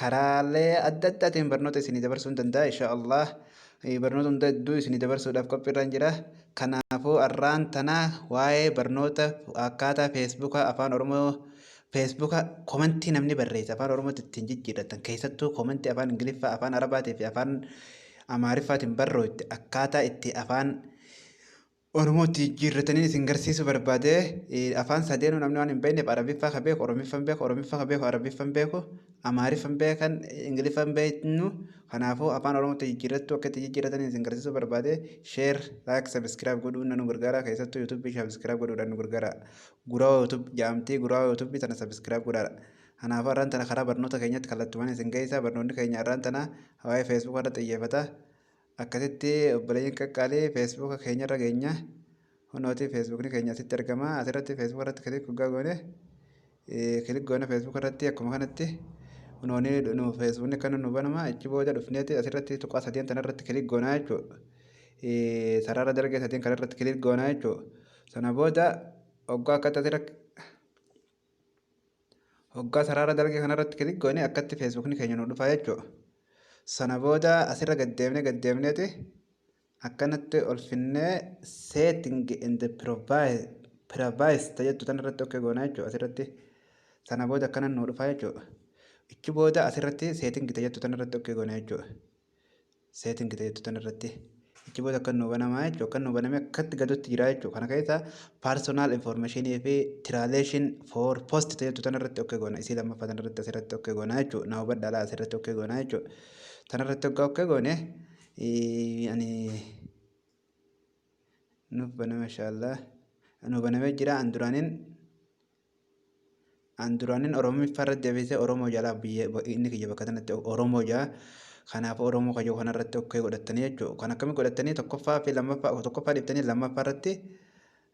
Karaalee adda addaatiin barnoota isinii dabarsuun danda'a insha Allah. Barnoota hunda hedduu isinii dabarsuudhaaf qophiirraan jira. Kanaafuu arraan tana waa'ee barnoota akkaataa feesbuuka afaan oromoo feesbuuka komentii namni barreesse afaan oromootti ittiin jijjiirratan keessattuu komentii afaan ingiliffaa afaan arabaatii fi afaan amaariffaatiin barrooyte akkaataa itti afaan Oromootti jijjiirrataniin isin garsiisuu barbaade. Afaan sadeenuu namni waan hin beekneef Arabiffaa ka beeku Oromiffan beeku Oromiffaa ka beeku Arabiffan beeku Amaariffan beekan Ingiliffan beeknu kanaafuu afaan Oromootti jijjiirrattuu akka itti jijjiirrataniin isin garsiisuu barbaade sheer laayik sabiskiraayib godhuun nu gargaara keessattuu yuutuubii sabiskiraayib godhuudhaan nu gargaara guraawaa yuutuub jaamtii guraawaa yuutuubii tana sabiskiraayib godhaadha. Kanaafuu arraan tana karaa barnoota keenyatti kallattumaan isin geessaa barnoonni keenya arraan tana waa'ee feesbuukaa irratti xiyyeeffata. Akkasitti obboleeyyan qaqqaalii feesbuuka keenyarra geenya. Hunooti feesbuukni keenya asitti argama. Asirratti feesbuuka irratti kilik hoggaa goone kilik goone feesbuuka irratti akkuma kanatti hunooni nu feesbuukni akka nu banama achi booda dhufneeti asirratti tuqaa sadeen tanarratti kilik goonaa jechuudha. Sarara dalgee sadeen kanarratti kilik goonaa jechuudha. Sana booda hoggaa akkatti asirra Hoggaa sarara dalgee kanarratti kilik goone akkatti feesbuukni keenya nu dhufa jechuudha. Sana booda asirra gaddeemnee gaddeemneeti akkanatti ol finnee setting and privacy jettu tanarratti okkee goona jechuudha asirratti. Sana booda akkanan nu dhufa jechuudha. Ichi booda asirratti setting jettu tanarratti okkee goona jechuudha. setting ta'etu tan irratti achi booda akkan nuu banamaa jechuudha akkan nuu banamee akkatti gadutti jira jechuudha kana keessa personal information fi translation for post ta'etu tan irratti okkee goona isii lammaffaa tan irratti asirratti okkee goona jechuudha na hubadha laa asirratti okkee goona jechuudha tan irratti oggaa okkee goone ani nuuf baname inshaallah nuu banamee jira an duraaniin An duraanin Oromiffa irra deebisee Oromoo jalaa biyya inni kiyya bakka sanatti Oromoo jaa kanaaf Oromoo kayyoo kana irratti okkee godhattanii jechuudha. Kan akkamii godhattanii tokkoffaa fi lammaffaa tokkoffaa dhiiftanii lammaffaa irratti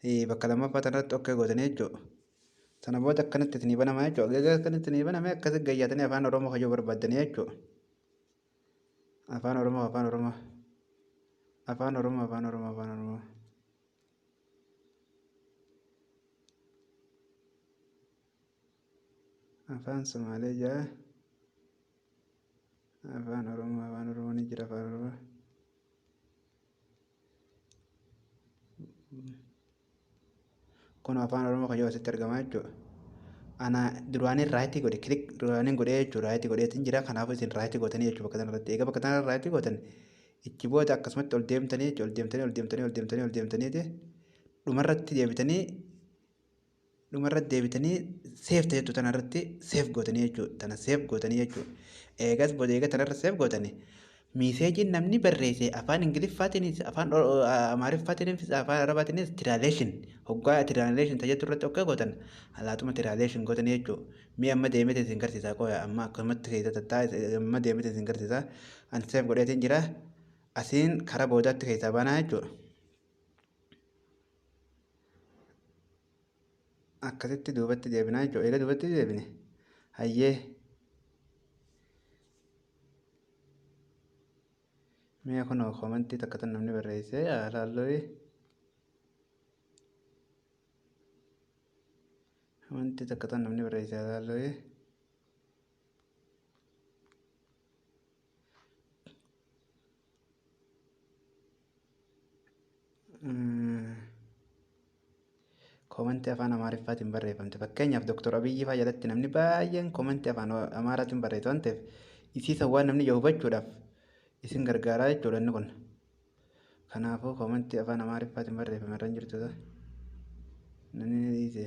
eh, bakka lammaffaa sana irratti okkee gootanii jechuudha. Sana booda akkanatti isinii banama jechuudha. Egaa akkanatti isinii baname akkasi gayyaatanii afaan Oromoo kayyoo barbaaddanii jechuudha. Afaan Oromoo afaan Oromoo afaan Oromoo afaan Oromoo afaan Oromoo. afaan somaalee ja'a afaan oromoo afaan oromoo ni jira afaan oromoo kun afaan oromoo kan yoo asitti argamaa jechuudha ana duraanii raayitii godhe kilik duraaniin godhee jechuudha raayitii godheetiin jira kanaafuu isin raayitii gootanii jechuudha bakka tanarratti egaa bakka tanarratti raayitii gootan Itti booda akkasumatti ol deemtanii jechuudha. Ol deemtanii, ol deemtanii, ol deemtanii, ol deemtanii ti. Dhumarratti deebitanii dhumarratti deebitanii seef ta'e jechuudha. Tanarratti seef gootanii jechuudha. Tana seef gootanii jechuudha. Eegas booda eega tanarra seef gootanii miiseejiin namni barreesse afaan Ingiliffaatiinis afaan Oro- o- a- Amaariffaatiinis afaan Arabaatiinis tiraaleeshin hoggaa tiraaleeshin tajaajiltu irratti akka gootan alaatuma tiraaleeshin gootanii jechuudha. Mee amma deemete isin garsiisaa qoya amma akkanumatti keessa tattaa amma deemete isin garsiisaa an seef godheetiin jira asiin kara boodaatti keessaa baanaa jechuudha. Akkasitti duubatti deebinaa jechuudha eega duubatti deebine hayyee mee kunoo komantii takka tan namni barreessee haalaalloyee. Wanti takka tan namni barreesse ilaallee koomantii afaan Amaariffaatiin barreeffamte fakkeenyaaf Dooktor Abiyyi fa'aa jalatti namni baay'een koomantii afaan Amaaraatiin barreessu waan ta'eef isiisa waan namni ija hubachuudhaaf isin gargaaraa jechuudha inni kun. Kanaafuu komentii afaan Amaariffaatiin barreeffame irra hin jirtu ta'e. Namni ni dhiise.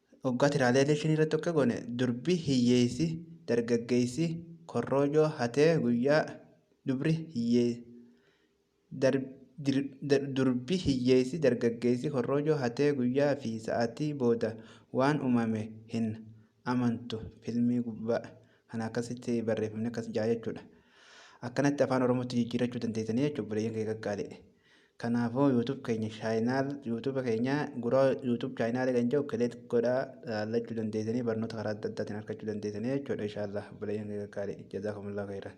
Oggaa tiraalee elekshinii irratti akka goone durbi hiyyeessi dargaggeessi korroojoo hatee guyyaa dubri hiyyee dar, dir, dar, durbi hiyyeessi dargaggeessi korroojoo hatee guyyaa fi sa'aatii booda waan uumame hin amantu filmii gubbaa kana akkasitti barreeffamni akkas jaa jechuudha. Akkanatti afaan oromootti jijjiirachuu dandeessanii jechuudha obboleeyyan kee qaqqaalee. Kanaafuu YouTube keenya channel YouTube keenya gura YouTube channel kan jiru click godha laachuu dandeessanii barnoota karaa adda addaatiin argachuu dandeessanii jechuudha inshallah bilayyeen keenya gaarii jazakumullah khairan.